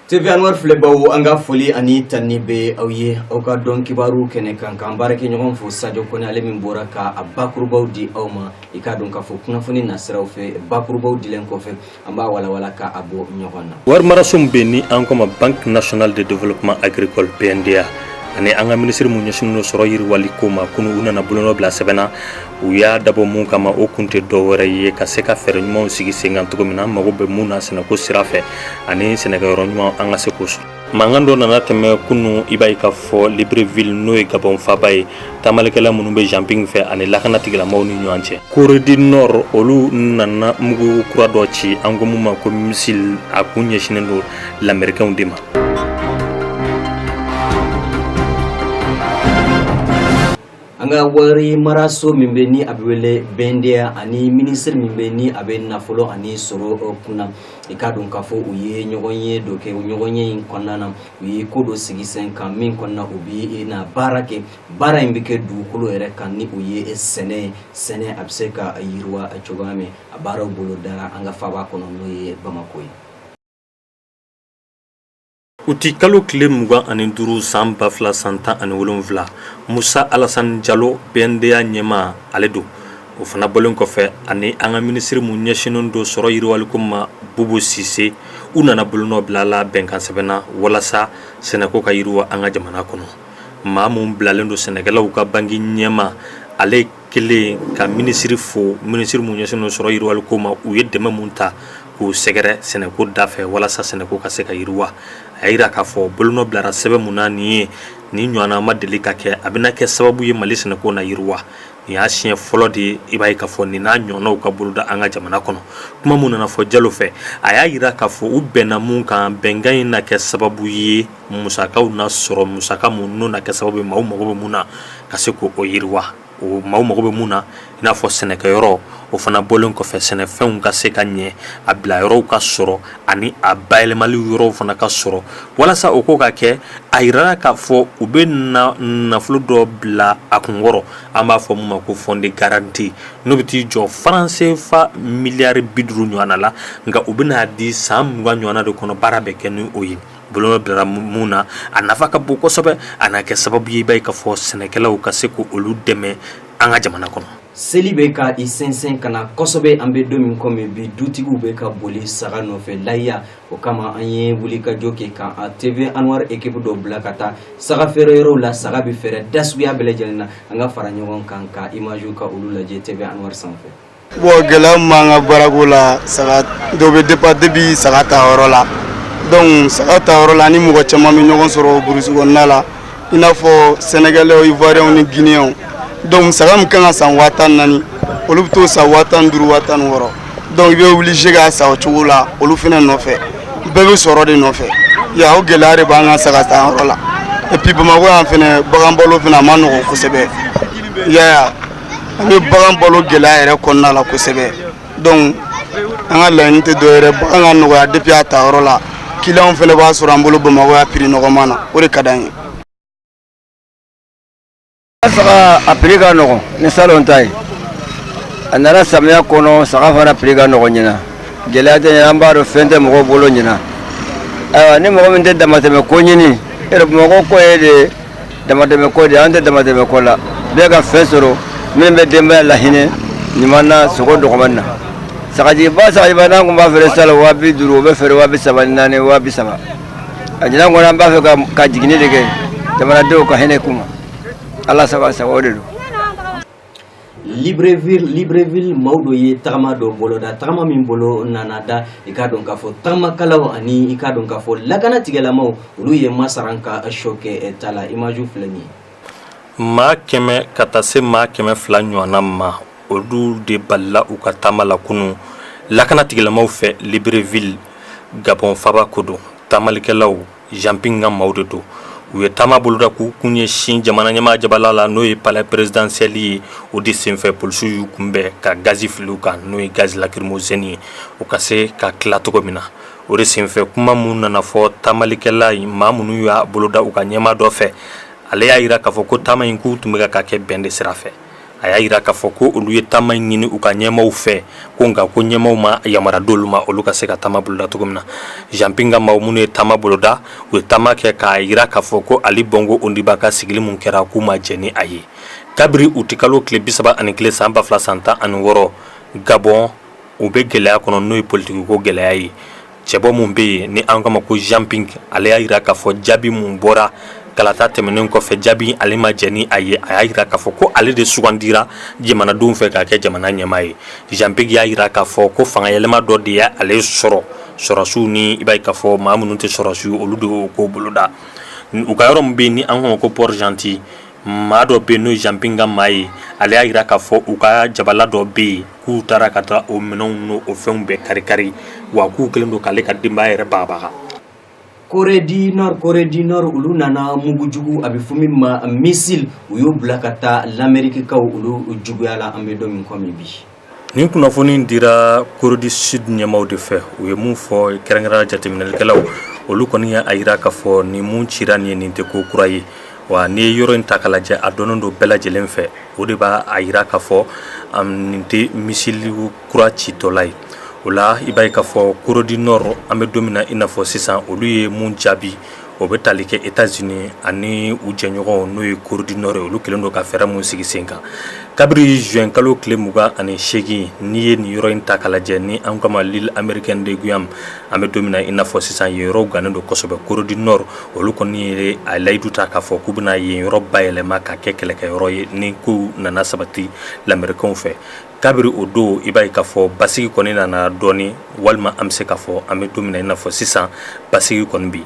TV Anwar filɛbaw an ka foli ani tanuni bɛ aw ye aw ka don kibaru kɛnɛ kan ka an baarakɛɲɔgɔn fo sajo kone ale min bɔra ka a bakurubaw di aw ma i k'a dɔn k'a fɔ kunnafoni nasiraw fɛ bakurubaw dilen kɔfɛ an b'a walawala ka a bɔ ɲɔgɔn na warimaraso min bɛ ni an ko ma Banque nationale de développement agricole BNDA ani an ka minisiri mu ɲɛsinnen don sɔrɔ yiriwali ko ma kunun u nana bolonɔ bila sɛbɛn na u y'a dabɔ min kama o kun tɛ dɔ wɛrɛ ye ka se ka fɛɛrɛ ɲumanw sigi senkan cogo min na an mago bɛ mun na sɛnɛko sira fɛ ani sɛnɛkɛyɔrɔ ɲuman an ka se k'o sɔrɔ mankan dɔ nana tɛmɛ kunu i b'a ye k'a fɔ libreville n'o ye gabɔn faba ye taamalikɛla minnu bɛ Jean Ping fɛ ani lakana tigilamɔgɔw ni ɲɔgɔn cɛ Corée du Nord olu nana mugu kura dɔ ci an ko mun ma ko missile a kun ɲɛsinen don lamɛrikɛnw de ma an ka wari maraso min bɛ ni a bɛ wele BNDA ani minisiri min bɛ ni a bɛ nafolo ani sɔrɔ kunna i k'a dɔn k'a fɔ u ye ɲɔgɔnye dɔ kɛ ɲɔgɔnye in kɔnɔna na u ye ko dɔ sigi sen kan min kɔnɔna u bɛ na baara kɛ baara in bɛ kɛ dugukolo yɛrɛ kan ni o ye sɛnɛ ye sɛnɛ a bɛ se ka yiriwa cogoya min a baara bolodara an ka faba kɔnɔ n'o ye bamako ye Uti kalo tile mugan ani duuru san ba fila san tan ani wolonfila musa alasani jalo BNDA ɲɛmaa ale don o fana bɔlen kɔfɛ ani an ka minisiri min ɲɛsinnen don sɔrɔ yiriwaliko ma bubu sise u nana bolonɔ bila la bɛnkansɛbɛn na walasa sɛnɛko ka yiriwa an ka jamana kɔnɔ maa min bilalen don sɛnɛkɛlaw ka banki ɲɛma ale kɛlen ka minisiri fo minisiri min ɲɛsinnen sɔrɔ yiriwaliko ma u ye dɛmɛ min ta k'u sɛgɛrɛ sɛnɛko da fɛ walasa sɛnɛko ka se ka yiriwa a y'a jira k'a fɔ bolonɔ bilara sɛbɛn min na nin ye nin ɲɔgɔnna ma deli ka kɛ a bɛna kɛ sababu ye mali sɛnɛko na yiriwa nin y'a siɲɛ fɔlɔ de ye i b'a ye k'a fɔ nin n'a ɲɔgɔnnaw ka boloda an ka jamana kɔnɔ kuma min nana fɔ jalo fɛ a y'a jira k'a fɔ u bɛnna min kan bɛnkan in na kɛ sababu ye musakaw na sɔrɔ musaka mun n'o na kɛ sababu maaw mago bɛ mun na ka se k'o yiriwa o maaw mago bɛ mun na i n'a fɔ sɛnɛkɛyɔrɔ o fana bɔlen kɔfɛ sɛnɛfɛnw ka se ka ɲɛ a bila yɔrɔw ka sɔrɔ ani a bayɛlɛmali yɔrɔw fana ka sɔrɔ walasa o ko ka kɛ a yirala k'a fɔ u bɛ na nafolo dɔ bila a kunkɔrɔ an b'a fɔ mun ma ko fonds de garantie n'o bɛ t'i jɔ franc CFA miliyari bi duuru ɲɔgɔnna la nka u bɛna di san mugan ɲɔgɔnna de kɔnɔ baara bɛ kɛ ni o ye Bolonɔ bilara min na a nafa ka bon kosɛbɛ a na kɛ sababu ye i b'a ye k'a fɔ sɛnɛkɛlaw ka se k'olu dɛmɛ an ka jamana kɔnɔ. Seli bɛ ka i sɛnsɛn ka na kosɛbɛ an bɛ don min kɔmi bi dutigiw bɛ ka boli saga nɔfɛ layiya o kama an ye wulikajɔ kɛ ka TV Anwar ekipu dɔ bila ka taa saga feere yɔrɔw la saga bɛ feere da suguya bɛɛ lajɛlen na an ka fara ɲɔgɔn kan ka image ka olu lajɛ TV Anwar sanfɛ. Bon gɛlɛya min b'an ka baarako la saga dɔ bɛ départ depuis saga ta yɔrɔ la donc saga ta yɔrɔ la an ni mɔgɔ caman bɛ ɲɔgɔn sɔrɔ burusi kɔnɔna la i n'a fɔ Sénégalais Ivoiriens ni Guinéens donc saga min kan ka san waa tan naani olu bɛ t'o san waa tan ni duuru waa tan ni wɔɔrɔ donc i bɛ obligé k'a san o cogo la olu fana nɔfɛ bɛɛ bɛ sɔrɔ de nɔfɛ ya o gɛlɛya de b'an ka saga ta yɔrɔ la et puis Bamakɔ yan fana bagan balo fana a man nɔgɔn kosɛbɛ i y'a ye wa. ani bagan balo gɛlɛya yɛrɛ kɔnɔna la kosɛbɛ donc an ka laɲini tɛ dɔwɛrɛ bagan ka nɔgɔya depuis a ta yɔrɔ la kiliyanw fana b'a sɔrɔ an bolo Bamakɔ yan prix nɔgɔman na o de ka d'an ye. Saga a prix ka nɔgɔn ni salon ta ye a nara samiya kɔnɔ saga fana prix ka nɔgɔn ɲina gɛlɛya tɛ ɲina an b'a dɔn fɛn tɛ mɔgɔw bolo ɲina ayiwa ni mɔgɔ min tɛ damatɛmɛ ko ɲini yɛrɛ Bamakɔ ko ye de damatɛmɛ ko de an tɛ damatɛmɛ ko la bɛɛ ka fɛn sɔrɔ min bɛ denbaya lahinɛ ɲuman na sogo dɔgɔmani na sagajiba sagajiba n'an tun b'a feere salon waa bi duuru o bɛ feere waa bi saba ni naani waa bi saba a ɲinan kɔnɔ an b'a fɛ ka- ka jiginni de kɛ jamanadenw ka hinɛ kuma Ala saba sago o de don Libreville Libreville maaw dɔ ye tagama dɔ boloda tagama min bolo nana da i k'a dɔn k'a fɔ tagamakalaw ani i k'a dɔn k'a fɔ lakana tigilamaw olu ye masaran ka sɔ kɛ eh, ta la image filɛ nin ye maa kɛmɛ ka taa se maa kɛmɛ fila ɲɔgɔnna ma olu de balila u ka taama la kunun lakana tigilamaw fɛ Libreville Gabon faaba ko don taamalikɛlaw Jean Ping ka maaw de don u ye taama boloda k'u kun ɲɛsin jamana ɲɛmaa jabala la n'o ye palais présidentiel ye o de senfɛ polisiw y'u kunbɛn ka gazi fili u kan n'o ye gaz lacrymogène ye u ka se ka tila cogo min na o de senfɛ kuma minnu nana fɔ taamalikɛla in maa minnu y'a boloda u ka ɲɛmaa dɔ fɛ ale y'a yira k'a fɔ ko taama in k'u tun bɛ ka k'a kɛ bɛn de sira fɛ a y'a yira k'a fɔ ko olu ye taama in ɲini u ka ɲɛmaw fɛ ko nka ko ɲɛmaw ma yamara d'olu ma olu ka se ka taama boloda cogo min na Jean Ping ka maaw minnu ye taama boloda u ye taama kɛ k'a yira k'a fɔ ko Ali Bongo Ondimba ka sigili mun kɛra k'u ma jɛn ni a ye kabiri utikalo tile bisaba ani kelen san ba fila san tan ani wɔɔrɔ Gabon u bɛ gɛlɛya kɔnɔ n'o ye politikiko gɛlɛya ye Cɛbɔ mun bɛ yen ni an k'a ma ko Jean Ping ale y'a yira k'a fɔ jaabi mun bɔra kalata tɛmɛnen kɔfɛ jaabi ale ma jɛn ni a ye a y'a yira k'a fɔ ko ale de sugandira jamanadenw fɛ k'a kɛ jamana ɲɛmaa ye Jean Ping y'a yira k'a fɔ ko fangayɛlɛma dɔ de ye ale sɔrɔ sɔrɔsiw n'i b'a ye k'a fɔ maa minnu tɛ sɔrɔsiw ye olu de y'o ko boloda u ka yɔrɔ mun bɛ yen ni an k'a ma ko Port-Gentil maa dɔ bɛ yen n'o ye Jean Ping ka maa ye ale y'a yira k'a fɔ u ka jabala dɔ bɛ yen k'u taara ka taa o minɛnw n'o fɛnw bɛɛ kari-kari wa k'u kɛlen don k'ale ka denbaya yɛrɛ bagabaga Corée du Nord Corée du Nord olu nana mugu jugu a bɛ fɔ min ma missile u y'o bila ka taa l'Amériquekaw olu juguya la an bɛ don min komi bi nin kunnafoni in dira Corée du Sud ɲɛmaaw de fɛ u ye mun fɔ kɛrɛnkɛrɛnnenya la jateminɛlikɛlaw olu kɔni y'a jira k'a fɔ nin mun cira nin ye nin tɛ ko kura ye wa n'i ye yɔrɔ in ta k'a lajɛ a dɔnnen don bɛɛ lajɛlen fɛ o de b'a jira k'a fɔ nin tɛ misili kura citɔla ye o la i b'a ye k'a fɔ Corée du Nord an bɛ don min na i n'a fɔ sisan olu ye mun jaabi o bɛ tali kɛ États-Unis ani u jɛɲɔgɔnw n'o ye Corée du Nord ye olu kɛlen don ka fɛɛrɛ minnu sigi sen kan kabiri juin kalo tile mugan ani seegin n'i ye nin yɔrɔ in ta k'a lajɛ ni an kama l'île américaine de Guam An bɛ don min na i n'a fɔ sisan yen yɔrɔw gannen don kosɛbɛ Corée du Nord olu kɔni ye a layidu ta k'a fɔ k'u bɛna yen yɔrɔ bayɛlɛma k'a kɛ kɛlɛkɛ yɔrɔ ye ni kow nana sabati lamerikɛnw fɛ kabiri o don i b'a ye k'a fɔ basigi kɔni nana dɔɔnin walima an bɛ se k'a fɔ an bɛ don min na i n'a fɔ sisan basigi kɔni bɛ yen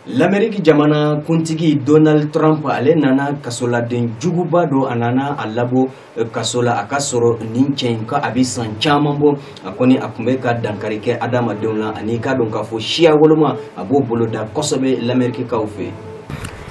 Lameriki jamana kuntigi Donald Trump ale nana kasoladen juguba dɔ a nana a labɔ kaso la a ka sɔrɔ nin cɛ in ka a bɛ san caman bɔ a kɔni a tun bɛ ka dankari kɛ adamadenw na ani k'a dɔn k'a fɔ siya woloma a b'o boloda kosɛbɛ lamerikikaw fɛ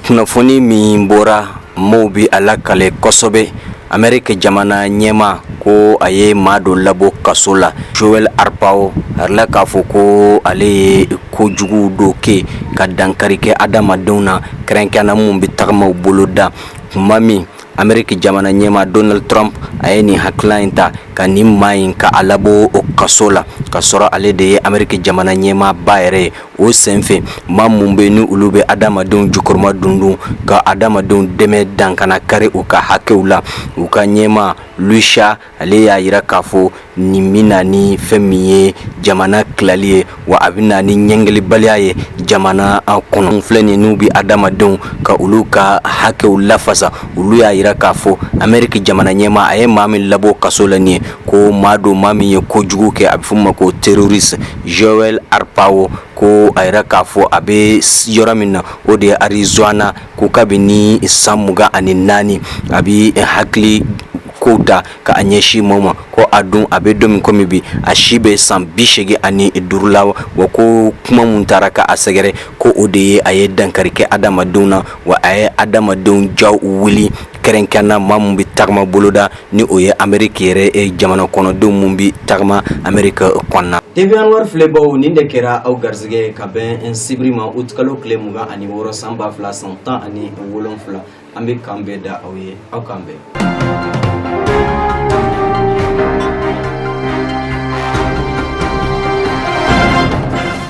kunnafoni min bɔra maaw bɛ a lakale kosɛbɛ ameriki jamana ɲɛmaa ko a ye maa dɔ labɔ kaso la Joel Arpaio a jirala k'a fɔ ko ale ye ko juguw dɔ kɛ ka dankari kɛ adamadenw na kɛrɛnkɛrɛnnenya la minw bɛ tagamaw bolo da tuma min ameriki jamana ɲɛmaa Donald Trump a ye nin hakilila in ta ka nin maa in ka a labɔ o kaso la k'a sɔrɔ ale de ye ameriki jamana ɲɛmaaba yɛrɛ ye o senfɛ maa minnu bɛ ni olu bɛ adamadenw jukɔrɔ madondon ka adamadenw dɛmɛ dan kana kari u ka hakɛw la u ka ɲɛmaa Lusiya ale y'a jira k'a fɔ nin bɛ na ni fɛn min ye jamana tilali ye wa a bɛ na ni ɲagalibaliya ye jamana in kɔnɔ filɛ nin n'u bɛ adamadenw ka olu ka hakɛw lafasa olu y'a jira k'a fɔ ameriki jamana ɲɛmaa a ye maa min labɔ kaso la nin ye ko maa don maa min ye ko jugu kɛ a bɛ fɔ ma ko terroriste Joel Arpaio ko a jira k'a fɔ a bɛ yɔrɔ min na o de ye Arizona ko kabini ni san mugan ani naani a bɛ hakili ko da ka a ɲɛsin maaw ma ko a dun a bɛ don min kɔmi bi a si bɛ san bi seegin ani duuru la wa ko kuma minnu taara k'a sɛgɛrɛ ko o de ye a ye dankari kɛ adamadenw na wa a ye adamadenw ja wuli kɛrɛnkɛrɛn na maa min bɛ tagama boloda ni o ye ameriki yɛrɛ jamana kɔnɔdenw min bɛ tagama ameriki kɔnɔna TV Anwar filɛbaw nin de kɛra aw garisɛgɛ ka bɛn n sibiri ma uti kalo tile mugan ani wɔɔrɔ san ba fila san tan ani wolonfila an bɛ kan bɛɛ da aw ye aw kan bɛn